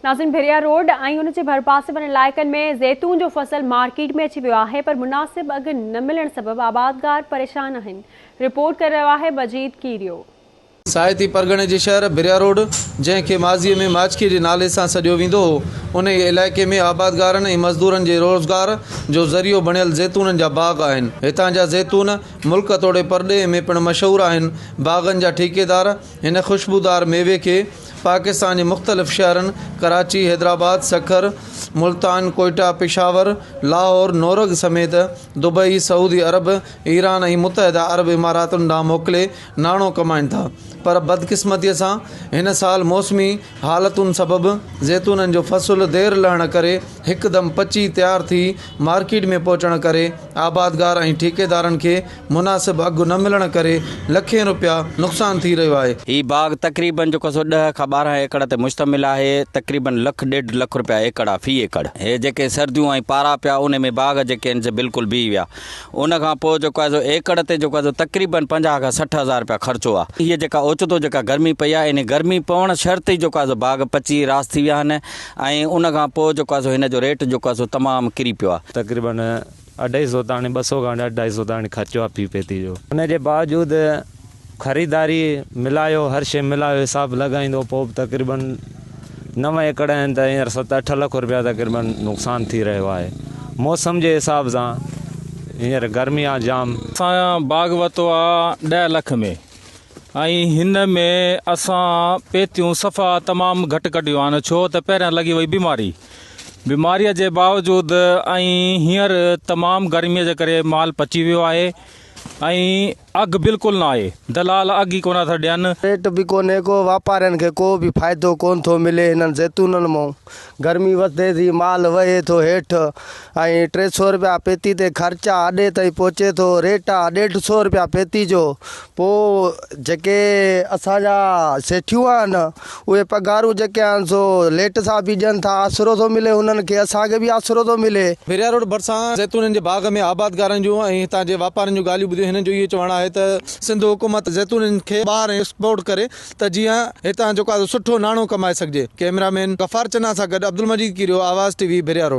ناظرين ڀريا روڊ ۽ ان جي ڀرپاسي وارن علائقن ۾ زيتون جو فصل مارڪيٽ ۾ اچي ويو آهي پر مناسب اگهه نه ملڻ سبب آبادگار پريشان آهن رپورٽ ڪري رهيو آهي مجيد ڪيريو. سائتي پرڳڻي جي شهر ڀريا روڊ جنهن کي ماضي ۾ ماڇڪي جي نالي سان سڏيو ويندو هو انهي علائقي ۾ آبادگارن ۽ مزدورن جي روزگار جو ذريعو بڻيل زيتونن جا باغ آهن هتان جا زيتون ملڪ توڙي پرڏيهه ۾ پڻ مشهور آهن باغن جا ٺيڪيدار هن خوشبودار ميوي کي پاڪستان جي مختلف شهرن ڪراچي، حيدرآباد، سکر، ملتان، ڪوئيٽا، پشاور، لاهور، نورنگ سميت دبئي، سعودي عرب، ايران ۽ متحده عرب اماراتن ڏانهن موڪلي ناڻو ڪمائين ٿا پر بدقسمتي سان هن سال موسمي حالتن سبب زيتونن جو فصل دير لهڻ ڪري هڪدم پچي تيار ٿي مارڪيٽ ۾ پهچڻ ڪري آبادگار ۽ ٺيڪيدارن کي مناسب اگهه نه ملڻ ڪري لکين روپيا نقصان ٿي رهيو آهي. هي باغ تقريبن جو ڪسو ڏهه کان ٻارهن ايڪڙ تي مشتمل آهي، تقريبن لک ڏيڍ لک روپيا ايڪڙ آهي في ايڪڙ، هي جيڪي سرديون ۽ پارا پيا انهي ۾ باغ جيڪي آهن سي بلڪل بيهي ويا، ان کان پوء جيڪو آهي سو ايڪڙ تي جيڪو آهي سو تقريبن پنجاهه کان سٺ هزار روپيا خرچو آهي، هي جيڪا اوچتو جيڪا گرمي پئي آهي انهي گرمي پوڻ شرط ئي جيڪو آهي سو باغ پچي راس ٿي ويا آهن ۽ ان کان پوء جيڪو آهي سو هن جو ريٽ جيڪو آهي سو تمام ڪري پيو آهي. تقريبن اڍائي سؤ تائڻي ٻه سؤ کان اڍائي سؤ تائڻي خرچو آهي في پيتي جو. ان جي باوجود خريداري ملايو هر شيء ملايو حساب لڳائيندو پوء به تقريباً نو ايڪڙ آهن ته هينئر ست اٺ لک رپيا تقريباً نقصان ٿي رهيو آهي موسم جي حساب سان هينئر گرمي آهي جام. اسان باغ ورتو آهي ڏهه لک ۾ ۽ هن ۾ اسان پيتيون صفا تمام گهٽ ڪڍيون آهن ڇو ته پهريان لڳي وئي بيماري بيماريء جي باوجود ۽ هينئر تمام گرميء جي ڪري مال پچي ويو آهي ۽ اگهه بلڪل نه آهي، دلال اگهه ئي ڪونه ٿا ڏين. ريٽ به ڪونهي ڪو، واپارين کي ڪو به فائدو ڪونه ٿو ملي هنن زيتونن مئون، گرمي وڌي ٿي مال وهي ٿو هيٺ ۽ ٽي سئو رپيا پيتي تي خرچ آ، اڏي تائين پهچي ٿو، ريٽ آ ڏيڍ سئو رپيا پيتي جو، پوء جيڪي اسان جا سيٺيون آهن، اهي پگهارون جيڪي آهن سو ليٽ سان به ڏين ٿا، آسرو ٿو ملي هنن کي، اسان کي به آسرو ٿو ملي. پيريا روڊ ڀرسان زيتونن جي باغ ۾ آبادگارن جون ۽ هتان جي واپارين جون ڳالهيون ٻڌيون هنن جو اهو چوڻ آهي ته سنڌ حڪومت زيتونن کي ٻاهر ايڪسپورٽ ڪري ته جيئن هتان جو ڪا سٺو ناڻو ڪمائي سگهجي. ڪئميرا مين غفار چنا سان گڏ عبدالمجيد ڪيريو، آواز ٽي وي، پيريا روڊ.